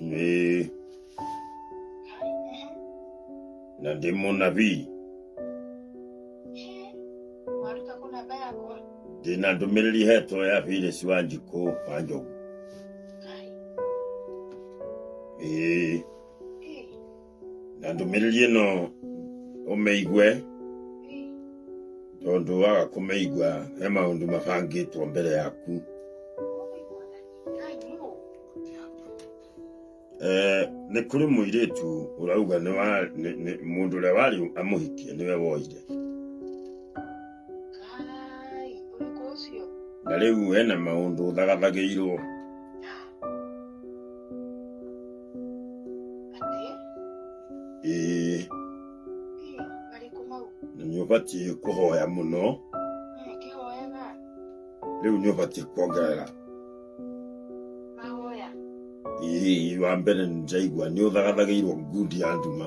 Eh. Na ndi mũnabii Waruta kũ namba yakwa? ndĩ na ndũmĩrĩri hetwo ya Felix Wanjikũ wa Njogu. Ai, Eh. na ndũmĩrĩri ĩno ũmĩigue tondũ waga kũmĩigua he maũndũ mabangĩtwo mbere yaku Eh, nĩ kũrĩ mũirĩtu ũrauga nĩ wa- nĩ- nĩ- mũndũ ũrĩa warĩ amũhikie nĩwe woire Kai, ũrĩkũ ũcio? na rĩu hena maũndũ thagathagĩirwo Atĩ, ĩĩ "Ĩ, marĩkũ mau?" na nĩ ũbatiĩ kũhoya mũno "Eh, kĩhoyaga, rĩu nĩ ũbatiĩ kuongerera mahoya." ĩĩ wa mbere nĩnjaigua nĩ ũthagathagĩirwo ngundi ya nduma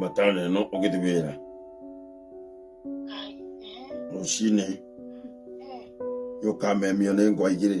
matano ĩno ũgĩthi wĩra rũcinĩ yũkamemio nĩ ngwa igĩrĩ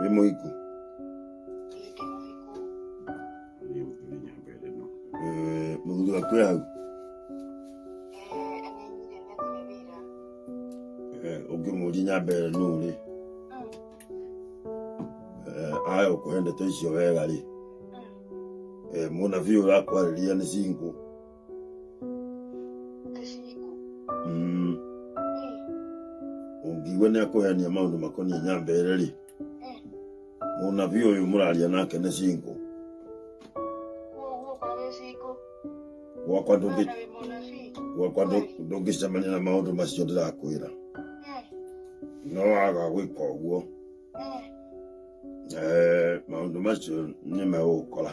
wĩ mũhiku Eh, mũthuri waku e hau Eh, ũngĩmũria nyambe ĩyo nũ rĩ Eh, aya ũkũhe ndeto icio wega rĩ Eh, mũnabii ũrakwarĩria nĩ cingũ Mm. ũngiigua nĩ akũheania maũndũ makoniĩ nyambere rĩ mũnabi ũyũ mũraria nake nĩ cingũ gwakwa ndũngĩ gwakwa ndũ- ndũngĩcemania na maũndũ macio ndĩrakwĩra no waga gwĩka ũguo eh, maũndũ macio nĩ megũgũkora